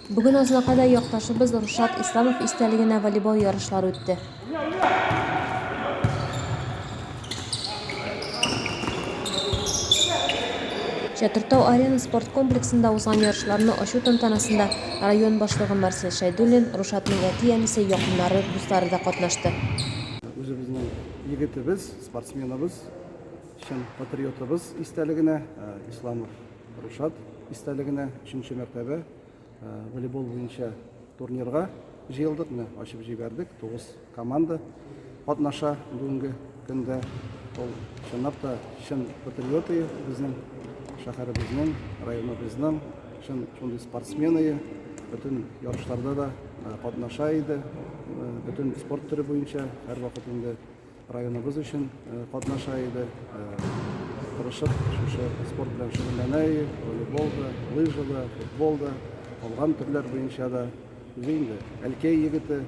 Бүген Азнакайда якташыбыз Рушат Исламов истәлегенә волейбол ярышлары үтте. Чатыртау Арена спорт комплексында узган ярышларны ачу тантанасында район башлыгы Марсель Шәйдуллин, Рушатның әти-әнисе, якыннары, дуслары да катнашты. Үзебезнең егетебез, спортсменыбыз, чын патриотыбыз истәлегенә Исламов. Ришат истәлегенә өченче мәртәбә э, волейбол буенча турнирга җыелдык. Менә ачып җибәрдек. Тугыз команда катнаша бүгенге көндә. Ул чынлап та чын патриоты безнең шәһәребезнең, районыбызның чын шундый спортсмены. Бөтен ярышларда да э, катнаша иде. Э, бөтен спорт төре буенча һәрвакыт инде Районыбыз өчен катнаша иде. Тырышып, шушы спорт белән шөгыльләнә иде. Волейбол да, лыжа да, футбол да, калган төрләр буенча да. Үзе инде Әлкәй егете,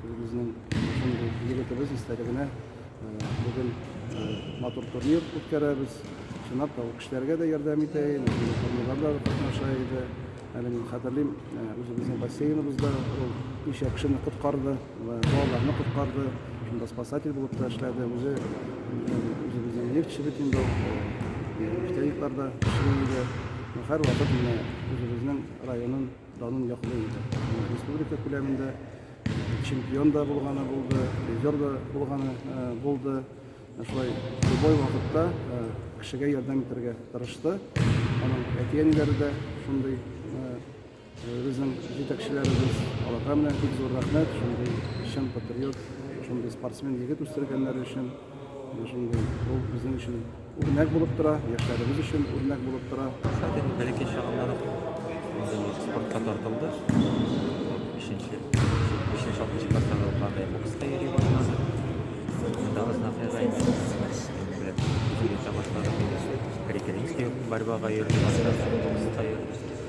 үзебезнең шундый егетебез истәлегенә бүген матур турнир үткәрәбез. Чынлап та, ул кешеләргә дә ярдәм итә иде, турнирларда да катнаша иде. Әле мин хәтерлим, үзебезнең бассейныбызда ул ничә кешене коткарды. Балаларны коткарды, шунда спасатель булып та эшләде. Үзе үзебезнең нефтьче бит инде ул. Нефтяникларда эшли иде. Һәрвакыт менә үзебезнең районын данын яклый иде. Республика күләмендә чемпион да булганы булды, призер да булганы булды. Шулай любой вакытта кешегә ярдәм итәргә тырышты. Аның әти-әниләре дә шундый Безнең җитәкчеләребез аларга менә бик зур рәхмәт, шундый чын патриот, шундый спортсмен егет үстергәннәре өчен. Шундый ул безнең өчен үрнәк булып тора, яшьләребез өчен үрнәк булып тора. Хәзер бәләкәй чагыннан үк спортка тартылды. Бишенче, бишенче, алтынчы класстан ук андый бокска йөри башлады. Монда Азнакайга инде беләп йөри башлады. Коррекелинский борьбага йөрде, бокска йөрде.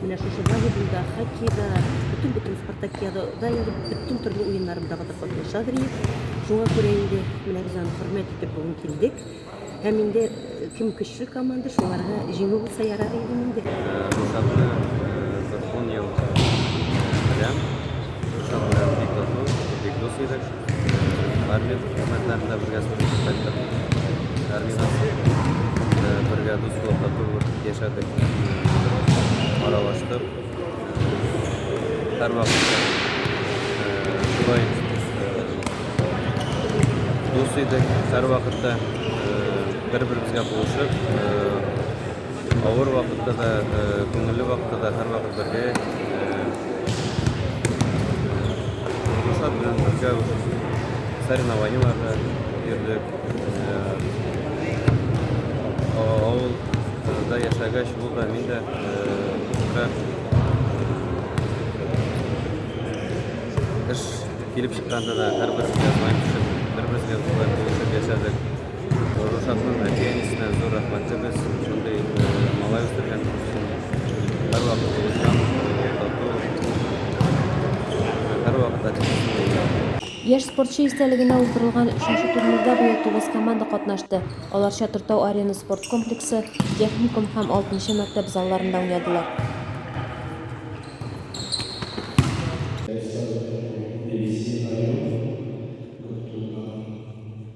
Менә шушы волейболда, хоккейда, бөтен бөтен спартакиада да инде бөтен төрле уеннарындагыда катнаша Древ. Шуңа күрә инде менә без аны хөрмәт итеп бүген килдек. Һәм инде э, кем көчле команда, шуларга җиңү булса ярар иде инде. Хисапны Закон ел белән, Шуша белән бик дус, бик дус идек. Армия хезмәтләрендә бергә сугышып кайттык. Армиядән соң бергә дуслык, татулык яшәдек. Аралаштык. Һәрвакытта шулай дус идек. Һәрвакытта бер-беребезгә булышып Авыр вакытта да, күңелле вакытта да һәрвакыт бергә. Гөлшат белән бергә соревнованиеларда йөрдек. Авылда яшәгәч, ул да мин дә эш килеп чыкканда да һәрберебезгә бер-беребезгә булып яшәдек. Рушатның әти-әнисенә зур рәхмәтлебез, шундый малай үстергәннәр өчен. Һәрвакыт тулычан, тату, һәрвакыт әти-әнисенә иярә. Яшь спортчы истәлегенә уздырылган өченче турнирда быел тугыз команда катнашты. Алар Чатыртау Арена спорт комплексы, Техникум һәм алтынчы мәктәп залларында уйнадылар.